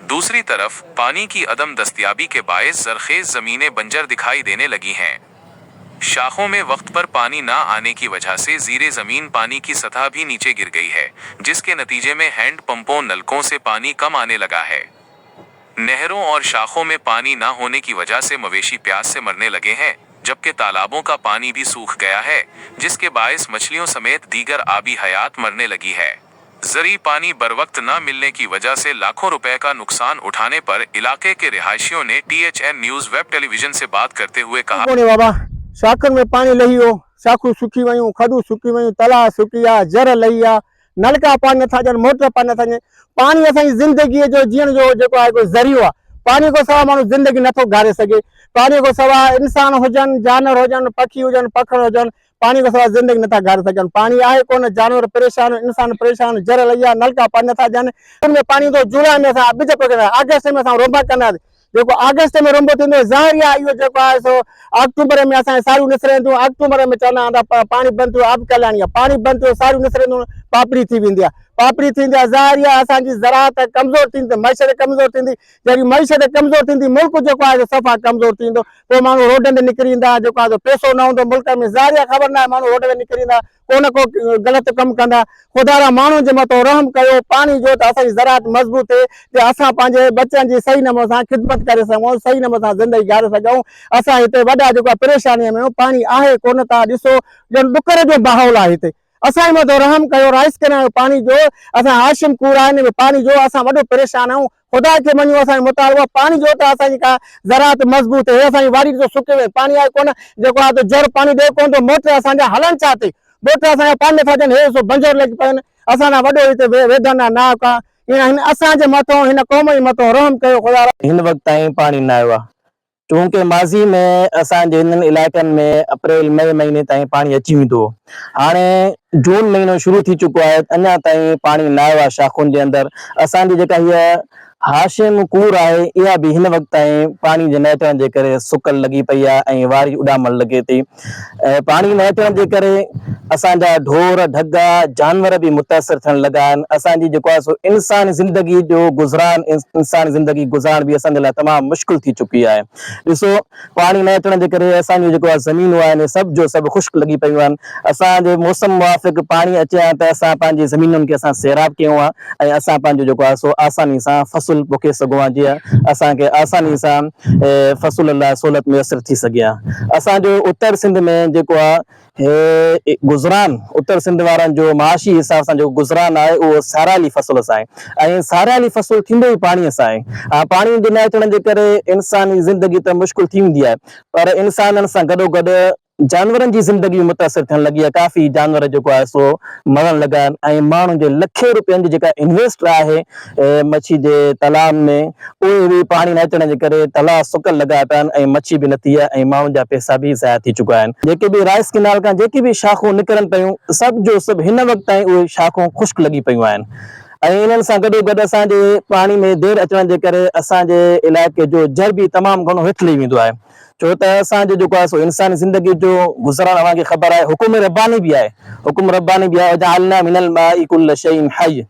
دوسري طرف پاني ڪي عدم دستيابي ڪي باعث زرخيز زميني بنجر دکائي ديني لگي هين شاخون مي وقت پر پاني نا آني ڪي وجه سي زيري زمين پاني ڪي سطح ڀي نيچي گر گئي هي جس ڪي نتيجي مي هينڊ پمپون نلڪون سي پاني ڪم آني لگا هي نهرون اور شاخون مي پاني نا هوني ڪي وجه سي مويشي پياس سي مرني لگي هين جب ڪي تالابون ڪا پاني ڀي سوخ گيا هي جس ڪي باعث مڇليون سميت ديگر آبي حيات مرني لگي هي زرعي پاني بروقت نه ملني ڪي وجه سي لاکون روپئه ڪا نقصان اٺاني پر علاقي ڪي رهائشيون ني T H N news web television سي بات ڪرتي هوئي ڪها ڪونهي بابا شاخن ۾ پاڻي لهي ويو شاخون سڪي ويون کڏون سڪي ويون تلاء سڪي ويا زر لهي ويا نلڪا پاڻي نٿا ڏين موٽر پاڻي نٿا ڏين پاڻي اسان جي زندگي جو جيئڻ جو جيڪو آهي ڪو ذريعو آهي پاڻي کان سواء ماڻهو زندگي نٿو گهاري سگهي پاڻي کان سواء انسان هجن جانور هجن پکي هجن پکڙ هجن پاڻي کان سواء زندگي نٿا گهاري سگهن. پاڻي آهي ڪونه، جانور پريشان، انسان پريشان، جر لئيا، نلڪا پاڻي نٿا ڏين. جون ۾ پاڻي ايندو، جولاء ۾ اسان ٻج پوکينداسين، آگسٽ ۾ اسان رونبا ڪنداسين. جيڪو آگسٽ ۾ رونبو ٿيندو، ظاهري آهي اهو جيڪو آهي سو آڪٽوبر ۾ اسان جون ساريون نسرينديون. آڪٽوبر ۾ چوندا آهن ته پاڻي بند ٿيو، آب ڪهلاني آهي. پاڻي بند ٿيو، ساريون نسرينديون، پاپڙي ٿي ويندي آهي. پاپڙي ٿيندي آهي، ظاهري آهي اسان جي زراعت ڪمزور ٿيندي، معيشت ڪمزور ٿيندي. جيڪڏهن معيشت ڪمزور ٿيندي ملڪ جيڪو آهي سو صفا ڪمزور ٿي ويندو پوء ماڻهو روڊن تي نڪري ايندا جيڪو آهي سو پيسو نه هوندو ملڪ ۾ ظاهر آهي خبر ناهي ماڻهو روڊ تي نڪري ايندا ڪو نه ڪو غلط ڪم ڪندا خدا را ماڻهو جي مٿو رحم ڪيو پاڻي ڏيو ته اسان جي زراعت مضبوط ٿئي جي اسان پنهنجي ٻچن جي صحيح نموني سان خدمت ڪري سگهون صحيح نموني سان زندگي گهاري سگهون اسان هتي وڏا جيڪو آهي پريشاني ۾ آهيون پاڻي آهي ڪونه تان ڏسو ڄڻ ڏڪر جو ماحول آهي هتي اسان جي مٿو رحم ڪيو رائس ڪينال جو پاڻي ڏيو اسان هاشم ڪوڙا هن ۾ پاڻي ڏيو اسان وڏو پريشان آهيون خدا کي مڃو اسان جو مطالبو آهي پاڻي جو ته اسان جي ڪا زراعت مضبوط هي اسان جي واري ڏسو سڪي وئي آهي پاڻي آهي ڪونه جيڪو آهي جر پاڻي ڏئي ڪونه ٿو موٽر اسان جا هلن ڇا تي موٽر اسان جا پاڻي نٿا ڏين هي ڏسو بنجر لڳي پيا آهن اسان ڏانهن وڏو هتي ويدن آهي ناهه ڪا هن اسان جي مٿو هن قوم جي مٿو رحم ڪيو خدا. هن وقت تائين پاڻي نه آيو آهي چونڪه ماضي ۾ اسان جي هنن علائقن ۾ اپريل مئي مهيني تائين پاڻي اچي ويندو هو هاڻي جون مهينو شروع ٿي چڪو آهي اڃا تائين پاڻي نه آيو آهي شاخن جي اندر اسان جي جيڪا هيء هاشم ڪور آهي اها به هن وقت تائين پاڻي جي نه اچڻ جي ڪري سڪل لڳي پئي آهي ۽ واري اڏامڻ لڳي ٿي. ۽ پاڻي نه اچڻ جي ڪري اسان جا ڍور، ڍڳا، جانور به متاثر ٿيڻ لڳا آهن. اسان جي جيڪو آهي سو انساني زندگي جو گذران، انساني زندگي گذارڻ به اسان جي لاء تمام مشڪل ٿي چڪي آهي. ڏسو پاڻي نه اچڻ جي ڪري اسان جون جيڪو آهي زمينون آهن اهي سڀ جو سڀ خشڪ لڳي پيون آهن. اسان جي موسم موافق پاڻي اچي ها ته اسان پنهنجي زمينن کي اسان سيراب ڪيون ها. ۽ اسان پنهنجو جيڪو آهي سو آساني سان فصل پوکي سگهون ها جيئن اسان کي آساني سان فصل لاء سهولت ميسر ٿي سگهي ها اسان جو اتر سنڌ ۾ جيڪو آهي گذران اتر سنڌ وارن جو معاشي حساب سان جيڪو گذران آهي اهو ساريالي فصل سان آهي ۽ ساريالي فصل ٿيندو ئي پاڻي سان آهي ها پاڻي جي نه اچڻ جي ڪري انساني زندگي ته مشڪل ٿي ويندي آهي پر انسانن سان گڏوگڏ جانورن جي زندگي به متاثر ٿيڻ لڳي آهي ڪافي جانور جيڪو آهي سو مرڻ لڳا آهن ۽ ماڻهن جي لکين روپين جي جيڪا انويسٽ آهي مڇي جي تلائن ۾ اهي به پاڻي نه اچڻ جي ڪري تلاء سڪل لڳا پيا آهن ۽ مڇي به نٿي آهي ۽ ماڻهن جا پئسا به ضايع ٿي چڪا آهن جيڪي به رائس ڪينال کان جيڪي به شاخون نڪرن پيون سڀ جو سڀ هن وقت تائين اهي شاخون خشڪ لڳي پيون آهن ۽ انهن سان گڏو گڏ اسان جي پاڻي ۾ دير اچڻ جي ڪري اسان جي علائقي جو جر به تمام گهڻو هيٺ لهي ويندو آهي ڇو ته اسان جو جيڪو آهي سو انساني زندگي جو گذران اوهان کي خبر آهي حڪم رباني به آهي حڪم رباني به آهي وجعلنا من الماء ڪل شيء حي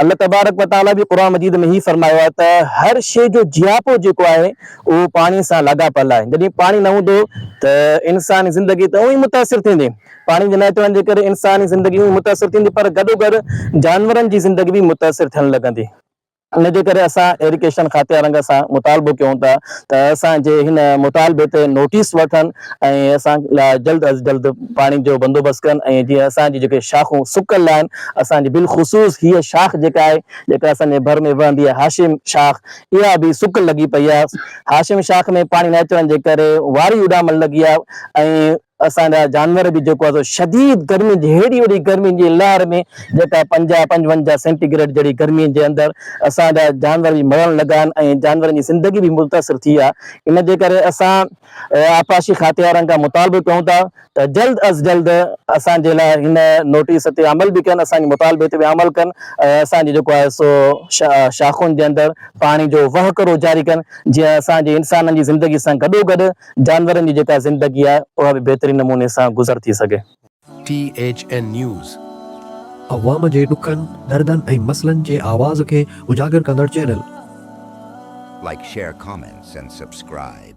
الله تبارڪ وتعالي به قرآن مجيد ۾ هي فرمايو آهي ته هر شيء جو جياپو جيڪو آهي اهو پاڻي سان لاڳاپيل آهي جڏهن پاڻي نه هوندو ته انساني زندگي ته اونئي ئي متاثر ٿيندي پاڻي جي نه اچڻ جي ڪري انساني زندگي اونئي متاثر ٿيندي پر گڏوگڏ جانورن جي زندگي به متاثر ٿيڻ لڳندي. ان جي ڪري اسان ايڊيوڪيشن کاتي وارن سان مطالبو ڪيون ٿا ته اسان جي هن مطالبي تي نوٽيس وٺن ۽ اسان لاء جلد از جلد پاڻي جو بندوبست ڪن ۽ جيئن اسان جي جيڪي شاخون سڪل آهن اسان جي بالخصوص هيء شاخ جيڪا آهي جيڪا اسان جي ڀر ۾ وهندي آهي هاشم شاخ اها به سڪل لڳي پئي آهي هاشم شاخ ۾ پاڻي نه اچڻ جي ڪري واري اڏامڻ لڳي آهي ۽ اسان جا جانور به جيڪو آهي شديد گرمين جي هيڏي وڏي گرمين جي لهر ۾ جيڪا پنجاهه پنجونجاهه سينٽي گريڊ جهڙي گرمين جي اندر اسان جا جانور به مرڻ لڳا آهن ۽ جانورن جي زندگي به متاثر ٿي آهي ان جي ڪري اسان آبپاشي کاتي وارن کان مطالبو ڪيون ٿا ته جلد از جلد اسان جي لاء هن نوٽيس تي عمل به ڪن اسان جي مطالبي تي به عمل ڪن ۽ اسان جي جيڪو آهي سو شاخن جي اندر پاڻي جو وهڪرو جاري ڪن جيئن اسان جي انسانن جي زندگي سان گڏوگڏ جانورن جي جيڪا زندگي آهي اها به بهترين نموني سان گذر ٿي سگهي. T H N news. عوام جي ڏکن، دردن ۽ مسئلن جي آواز کي اجاگر ڪندڙ channel. Like share comments and subscribe.